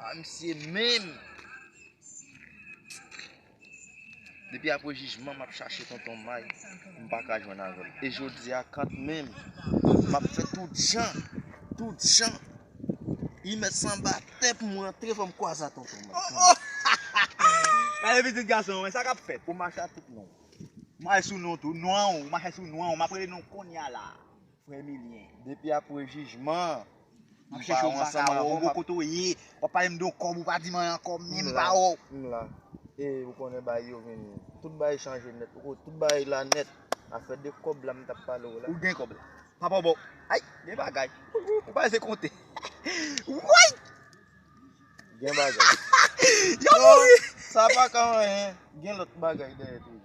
Ah misye menm. Depi apre jijman map chache tonton may m paka jwenn avèl e jodia kant menm map fè tout jan tout jan li mèt sanba tè pou m rantre fò m kwaze a tonton may gade pitit gason an sa kap fèt ou mache a tout non may sou non tou nwanw ou mache sou nwanw map rele nonw konnya la. Frè Emilien, depi apre jijman an, nou pa wè ansanm ankò. Mwen chèche w m pa ka wè w, m pa konnen kote w ye. W ap pale m de yon kòb ou pa di mwen ankò, m menm m pa wè w. M la. E ou konnen bagay yo vin, tout bagay chanje nèt. Ou konnen tout bagay la nèt. Afè de kòb la m t ap pale w la. Ou gen kòb la. Papa w ba w. Ay! Gen bagay. Ou pa janm konte. Woy! Gen bagay. Yo mouri! Sa pa ka anyen. Gen lòt bagay dèyè toujou.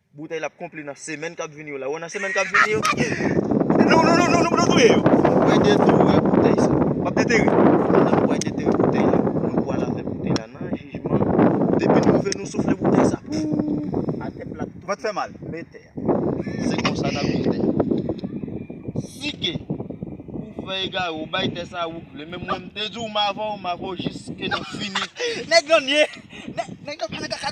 Boutèy la ap konpli nan semèn kap vini yo la. Ou wè nan semèn kap vini yo. Non non non nou touye yo. Ou wè de tou wè boutèy sa. Wap de teri. Ou wè de teri boutèy la. Nou pwa la fè boutèy la nan jijman. Depi nou ve nou soufle boutèy sa. Ooh. Atè plat tout. Vant fè mal. Metè. Se konsa nap viv tè. Si ke ou fè egare ou bay tè sa ou vle. Men mwen mte di ou ma vò ou ma vò jis ke nou fini. Nèg lan nye. Nèg lan pa nan kaka.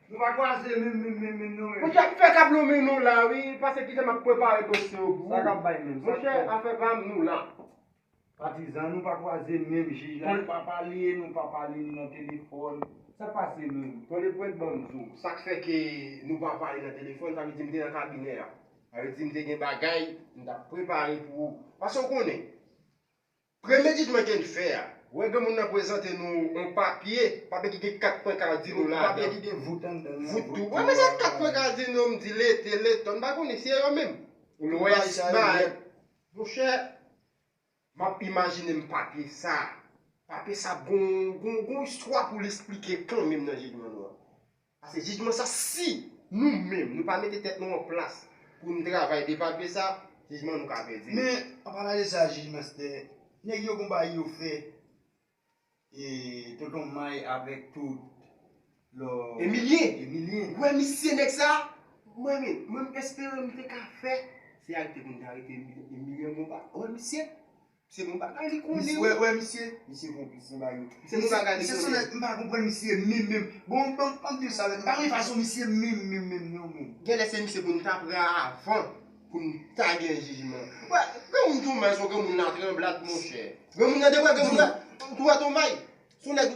Nou pa kwaze min min min min nou menm. Ou tap fè kab nou min nou la wi pase kijan map prepare dosye yo pou ou. Sa kap bay min. Mon chè afè pam nou la. Patizan nou pa kwaze min jij la nou pa pale nou pa pale li nan telefòn. Sak pase min. Tonde pwent banm di w. Sak fè ke nou pa pale nan telefòn sa vle di m te nan kabinè a. Sa vle di m te gen bagay m tap prepare pou ou. Pase ou konnen. Premye jij mwen ken fè a. Wè granmoun nan prezante nou on papye, papye ki gen 4 pwen ka di nou ladan. Papye ki gen vout anndan l nan vout tou a ladan. Wè sa 4 pwen ka di nou, m di lete, leton, m pa konnen si e yo menm. Lwès, Mayèt. Monchè, m ap imajine m papye sa, papye sa gon istwa pou l esplike kanmenm nan jijman nou an. Pase jijman sa si Nou menm Nou pa mete tèt Nou an plas Pou Nou travay depatbe sa jijman Nou ka pèdi. Men an palan de sa jij master nèg yo gon bagay yo fè tonton may avèk tout lò Emilien ou wè misye nèg sa mwen menm mwen espere m te ka fè se a li te konn arete Emilien konpa ou wè misye. Se bon bagay li konnen wi. Wè misye, misye konplis nan bagay yo. Se bon bagay li konnen. Misye sonnèt m pa konprann misye menm menm. Bon banm banm diw sa menm. M pa renmen fason misye menm menm menm non menm. Genlè se misye pou nou ta pran avan pou nou ta gen jijman. Wè granmoun Twomay son granmoun latranblad monchè. Granmoun nan debwa granmoun nan. Ou wè Twomay son nèg.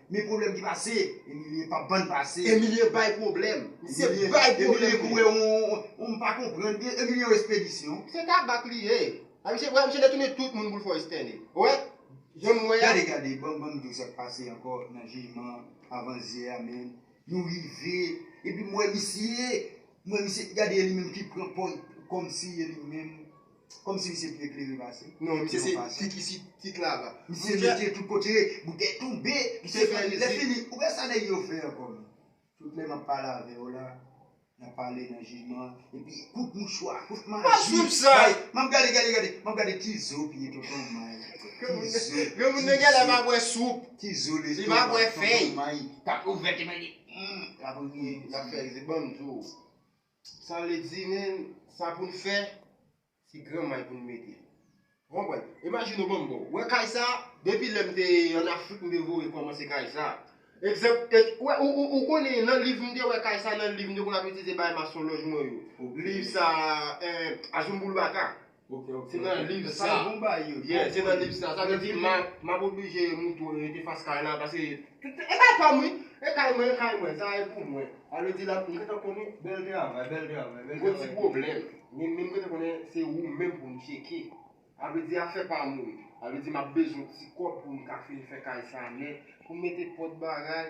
Men problem ki pase. Emilie pap ban pase. Emilie bay problem. Se bay problem li. Emilie kouwe ou m pa konprann byen. Emilie yon espedisyon. Se tabak li ye. A misye wè misye detounen tout moun poul fè w estène. Ou wè Jan m wè a. Gade gade banm banm diw sak pase ankò nan jijman avan zyè a menn. Nou rive Epi m wè misye. M wè misye gade e li menm ki pran pòz kòmsi e li menm Kòmsi misye pi eklere pase. Non misye se tik isit tik laba. Misye mete tout kote boutèy tonbe. Misye fè rizib. Lèfini ou wè sa nèg yo fè ankò menm. Tout lè map pale avèw la nap pale nan jijman epi kout mouchwa kout maji. Map swiv sa. Map gade gade gade map gade ki zo piye tonton may. Tizo. Granmoun nan genlè pa bwè soup. Tizo lestomak tonton may. Tap ouvè ti may li. Lap ri lap fè rizib banm diw. Sa vle di menm sa pou n fè se gran may pou n mete. Ou konprann? Imajine ou ban m bon. Ou wè kay sa, depi lè m te ann Afrik m te voye kòmanse kay sa. Egzanp, ou wè, ou konnen nan liv m te wè kay sa nan liv m te konn ap itilize bay masonlòj mwen yo. Liv sa a, Azumbulbaka. Ok ok. Se nan liv sa. Sa bon bay yo. Yeah se nan liv sa. Sa vle di map map oblije moutou rete fas kay la pase e kay pam wi. E kay mwen e kay mwen sa e pou mwen. Sa vle di la m gentan konnen. Bèl travay bèl travay bèl travay. M gon ti pwoblèm. Men men m gentan konnen se ou menm pou m tcheke. Sa vle di afè pa moun. Sa vle di map bezwen ti kòb pou m ka fin fè kay sa nèt. Pou m mete pòt bagay.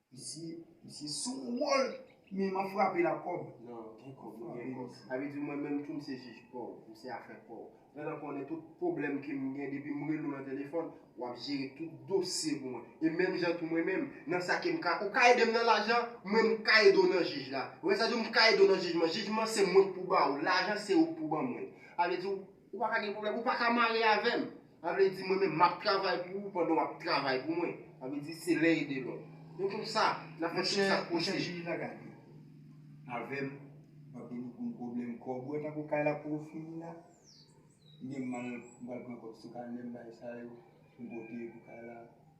Misye sou wol men man frape la kob. Nan gen kob nou gen kob. Sa vle di mwen menm tou m se jij paw, m se afè paw. Pandan konnen tout pwoblèm ke m gen depi m rele w nan telefòn, w ap jere tout dosye pou mwen. E menm jan tou mwen menm, nan sa ke m ka, ou ka ede m nan lajan, mwen m ka ede w nan jij la. Ou wè sa di w m ka ede w nan jijman. Jijman se mwen k pou ba ou, lajan se ou k pou ban mwen. Sa vle di w. Ou pa ka gen pwoblèm, ou pa ka mare avè m. Sa vle di mwen menm m ap travay pou ou pandan w ap travay pou mwen. Sa vle di se len ede lòt. Se konsa n ap fè tout sa k posib. Mèche jij la gade avè m m ap vini pou m koble m kòb ou an tankou kay la poko fini la. Mwen menm m pral pran kòb sou kanè m bay sa yo pou m pote pou kay la.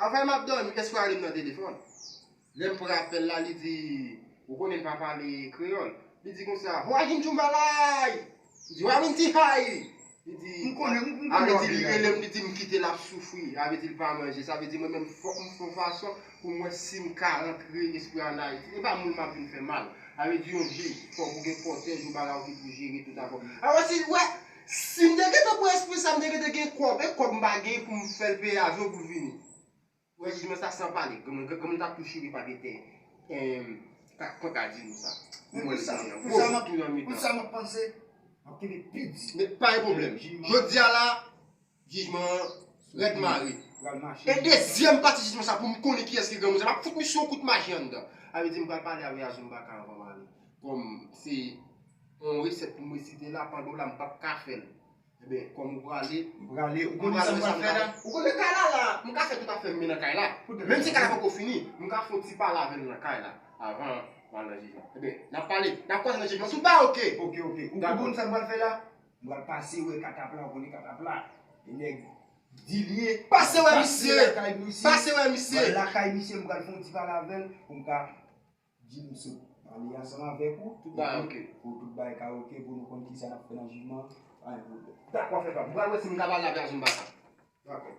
Anfen map domi espwa rim nan telefon lem pran apel la li di ou konnen m pa pale kreyol li di konsa hwa him djumbalay m di wa min ti hay li di m konnen m konnen wap vini la dim li di m kitel ap soufri sa vle di li pa manje sa vle di mwen menm fok m fon fason pou m wè sim ka rantre espwa an ayiti epa moun map vin fè mal sa vle di yon jij fok ou gen kotej ou bagay ou ki pou jere tout afè w alò si ou wè Sim te gentan pran espri sa m te gentan gen kòb e kòb m pa gen poum fèl peye avyon poul vini. Wè jijman sa san pale granmoun tap tou chire pa gen tè pran ka di nou sa. Pou mwen li gen yon gwo vant tou nan mitan. Pou sa map panse map kenbe pi di. Pa gen pwoblèm. Jodia la. Jijman Fred Marie pral mache. E dezyèm pati jijman sa poum konnen kiyès ki granmoun sa map fout misye yon kout maji anndan. Sa vle di m pral pale avè Azou Mbaka anvan m ale. Kòm se yon resèt pou m resite la pandan w la m pap ka fè l. Enben kòm ou prale. M prale ou konnen sa m pral fè la. Ou konnen kay la la. M ka fè tout afè m men nan kay la. Menm si kay la poko fini m ka fon ti pale avè l nan kay la avan m al nan jijman. Enben nap pale. Nap kwaze nan jijman si w ta ok. Ok ok. Ou konnen sa m pral fè la. M pral pase wè katapla ou konnen katapla e nèg di l ye. Pase wè misye! Pase wè misye! M pral lakay misye m pral fè yon ti pale avè l pou m ka di l m sot pale ansanm avèk ou pou tout bagay ka ok pou nou konn kisa n ap fè nan jijman an pa gen pwoblèm. Dakò frè pa m. M pral wè si m kapab lage ak Zumba sa. Dakò.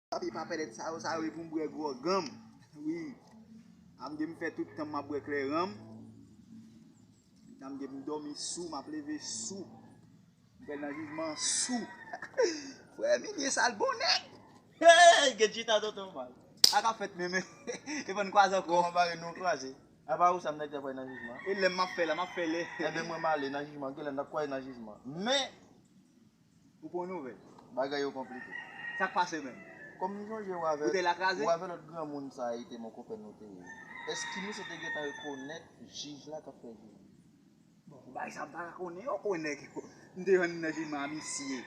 Papi pa pèlèt sa yo, sa yo e pou m bwè gwòganm wi Am gen m fè tout tanm m ap bwè klèranm Am gen m dòmi sou, m ap leve sou M pral nan jijman an sou Frè Emilie sa l bon nèg Hey! Gèt chita tonton mal Sa k ap fèt menm E fò n kwaze ankò Kòman bare nou kwaze Apa ou sa m ta di ap pral nan jijman E lè m ap fè la m ap fè lè Enben mwen m ale nan jijman Gen lè n ap kwaze nan jijman Men! Ou pran nouvèl. Bagay yo konplike. Sa k pase menm? Kòm m sonje ou avè ou avè lòt granmoun sa a ete monkopè nou te ye, èske misye te gentan rekonèt jij la k ap fè jijman? Bon, pou bagay sa a m pa ka konnen yo, kwen nèg yo. M te rann nan jijman a misye.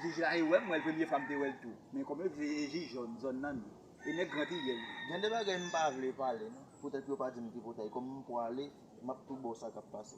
Jij la e wè m, m wè l premye fwa m te wè l tou. Men kòm yo di e jij jòn, zòn nan nou. E nèg gran triyèl li. Gen de bagay m pa vle pale non. Poutèt yo pa di m tripotay. Kòm m pwale, m ap tou ba w sa k ap pase.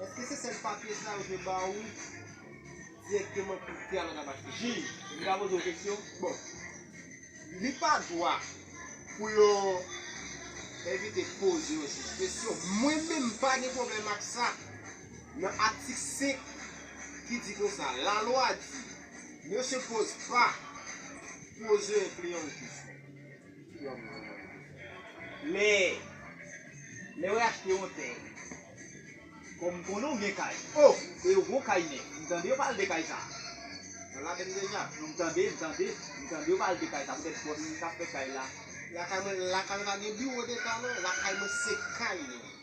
Eske se sèl papye sa yo te ba ou direkteman pou tè a nan Tabasco? Jij, m ka poze yon keksyon? Bon, li pa dwa pou yon envite poze yon jij kesyon. Mwen menm m pa gen pwoblèm ak sa. Nan atik 5 ki di konsa, la lwa di, ne se poze pa, poze enpliyan ou kesyon. Lè Lè wè achte yon tè Kòm m konnen w gen kay Oh e yo gon kay nèt M tande yo pale de kay sa Nan la Bèn Dènya Non m tande m tande M tande yo pale de kay sa poutèt bòs ki t ap fè kay la Lakay mwen Lakay mwen pa gen biwo deta non Lakay mwen se kay mwen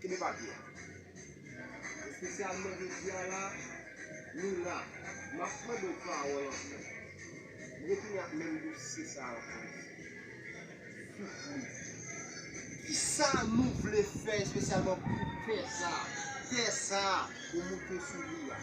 Kenbe papye a. Espesyalman jodi a la, nou la. M ap mande w pawòl ankò. M retounen ak menm dosye sa a ankò isi. Soufri. Kisa nou vle fè espesyalman pou tè sa a? Tè sa a ou monte sou li a.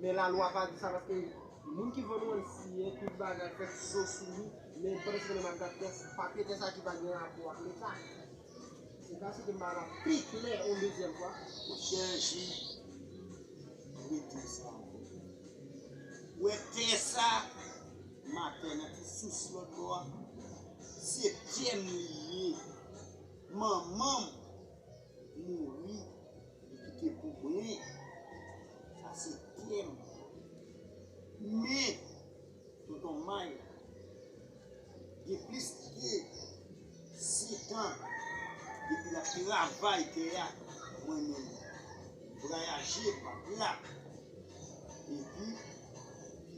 Men la lwa pa di sa paske moun ki vann ou an siyen tout bagay fè ti zo sou li men pandan se konn map gad tès papye tè sa ki pa gen rapò ak leta ou ka esplike m bagay la pi klè on dezyèm fwa? Monchè Ji rete sa ankò ou wè tè sa matè nan ti sous lòt bò a se pyem li ye manmanm. mouri li kite pou mwen sa se pyem men tonton may gen plis pye setan depi lap travay tè a mwen menm vrayaje pap la epi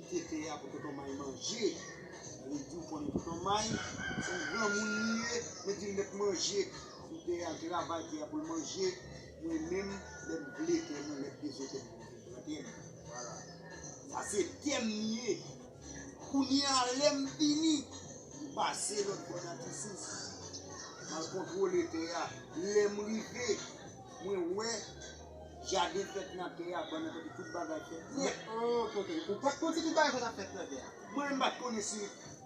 kite tè a pou tonton may manje mwen diw konnen tonton may son granmoun li ye mwen dil met manje Pou tè a travay tè a poul manje mwen menm lèm vle tè mwen lèm bezwen tèm mwen vin pran tèm voilà sa se tèm li ye kounya lèm fini m pase lòt bò nan tisous mal kontwole tè a lèm rive mwen wè jaden fèt nan tè a bannann kote tout bagay fèt nèt. Ou pat konn si tout bagay sa tap fèt nan tè a? Mwen menm m pat konnen si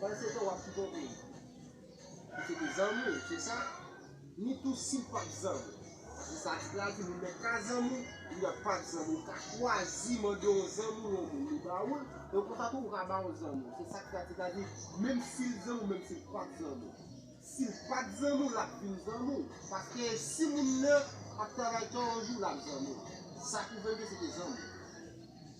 Pandan se tan wap sipote li. Li se te zanmi w se sa? Ni tou si l pat zanmi w. Paske sa di la di moun nèk ka zanmi w, li a pat zanmi w ka chwazi mande yon zanmi w yon moun li ba ou l, donk konsa tou ou ka ba yon zanmi w. Se sa ki ta di la di menm si l zanmi w menm si l pat zanmi w. Si l pat zanmi w lap vin zanmi w. Paske si moun nan ap travay tò yon jou lap zanmi w. Sa pwouve ke se te zanmi w.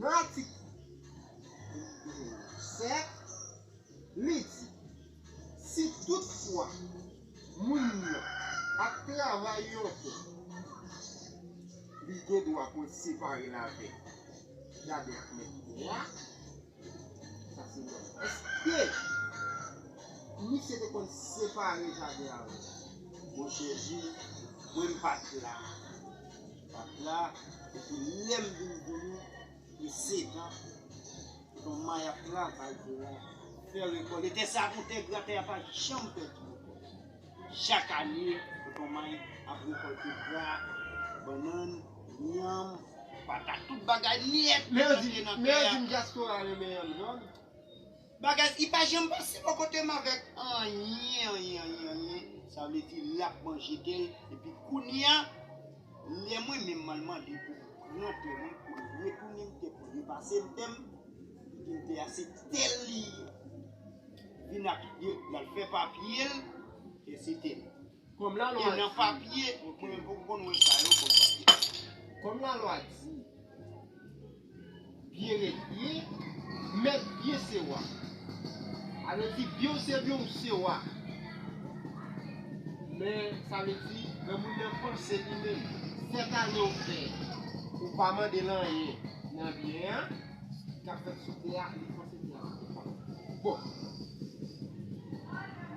Nan atik 7, li di, Si tout fwa moun nan ap travay yon tè, li gen dwa pou l separe l avèk gadè ak mèt tè a, sa se nòm nan. Èske misye te konn separe jaden an? Bon Jezi, mwen m pa t la. Dat la epi lèm vin konnen li setan ton may ap travay tè a fè rekòl e tè sa ap yon tè gra tè a pa janm pèdi rekòl chak ane ton may ap rekòlte gra bannann yanm patat tout bagay nèt ki rantre nan tè a. Bagay I pa janm pase bò kotem avèk anyen anyen anyen anyen sa vle di lap manje tel epi kounya lè mwen menm man mande poum pran tè mwen poul retounem tè poul repasem tèm li dim tè a se tel li ye vin ak lal fè papyel tè se tel. Kòm lalwa di. Kòm lalwa di. Byen ret byen, mèt byen se wa. A vle di byen w se byen w se wa. Men sa vle di lè moun nan panse li menm. Sèt ane w fè, ou pa mande l anyen nan byen an. Kap fèt sou tè a. Bon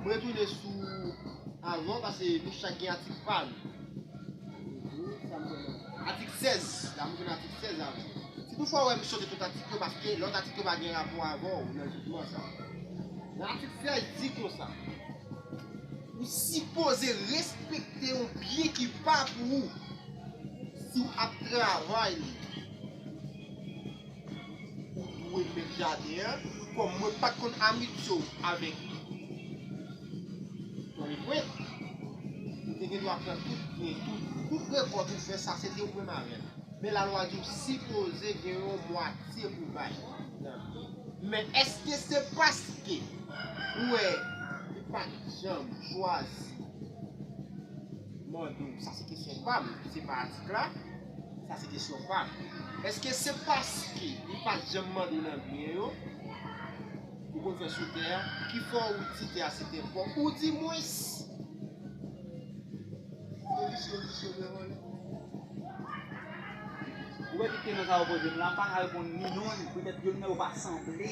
M retounen sou avan pase nou chak gen atik pa nou. Atik 16 la m retounen atik 16 avan. Si tou fwa ou wè m sote tout atik yo paske lòt atik yo pa gen rapò avè w nan jijman sa. Nan atik 16 di konsa. Ou sipoze respekte yon byen ki pa pou ou si w ap travay li. Ou dwe met jaden an. Kòm mwen pat konn amitye w avèk Tony Brent, ou te gen dwa pran tout byen, tout rekòt ou fè sa se te ou menm avè l. Men lalwa di w sipoze gen yon mwatye pou w bay. Men èske se paske ou wè li pat janm chwazi mande w, sa se kesyon pa m, se pa atik la. Sa se kesyon pam. Eske se paske li pat janm mande nan byen yo ou konn fè sou tè a ki fè w di tè a se tè pa w oudimwens. Ou wè tout kesyon sa yo poze m la m paka reponn ni non ni petèt youn nan yo pa sanble.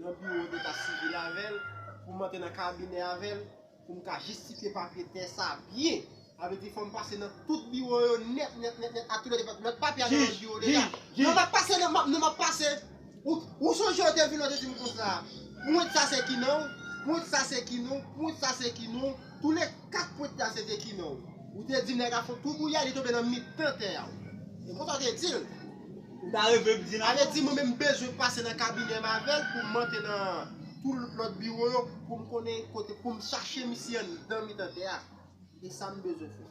nan biwo deta sivil avè l, pou m antre nan kabinè avè l, pou m ka jistifye papye tè sa a byen. Sa vle di fò m pase nan tout biwo yo nèt nèt nèt nèt ak tout lòt depatman, lòt papye a nan lòt biwo deta. Jij! Jij! Jij! Non m ap pase nan, non m ap pase. Ou, ou sonje ou te vin la ou te di m konsa, pwent sa se ki non w, pwent sa se ki non w, pwent sa se ki non w. Tou le 4 pwent la se te kimen w. Ou te di nèg a fon twou koulye a li tonbe nan mitan tè a. Se konsa w te di l. Ou ta reve m di nan. Ale di mwen menm m bezwen pase nan kabinè m avè l pou m monte nan tou lòt biwo yo pou m konnen kote pou m chache misye anndan mitan tè a. Se sa m bezwen fè.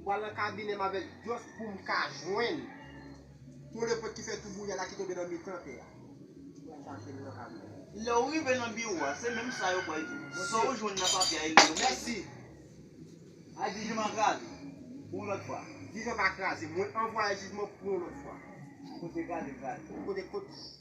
M pral nan kabinèm avèk dyòs poum ka jwenn tole pwent ki fè tou bouya la ki tonbe nan mitan tè a. M pral chache l nan kabinèm. Lè ou rive nan biwo a, se menm sa yo pral di w. Sa ou jwenn nan papye a e li yo pral di w. Mèsi! Al di jijman an kraze pou yon lòt fwa. Jijman pa kraze. Mwen anvwaye jijman pou yon lòt fwa. Kote kraze kraze. Kote kot.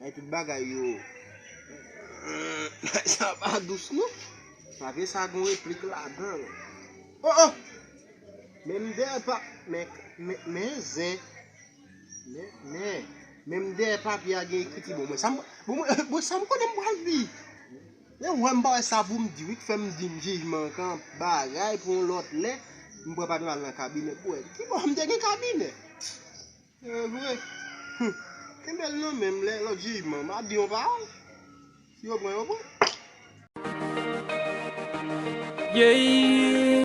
Bay tout bagay yo. Bagay sa pa dous non. Pavre sa gon replik ladanl. Oh oh. Men mnde pa men men zen. Men men men mnde papye a gen ekriti bon mwen sam bon sam konnen mpral di. Yo wèm pa wè sa poum di wi k fèm di m jijman kan bagay pou yon lòt lè. Mpre pa dwe al nan kabinè pou wè. Kibò mte gen kabinè. Se vre. Humm. Kenbe l nan men m lè lòt jijman m ap di yon pawòl. Si yo pran yo pran. Yeeyy.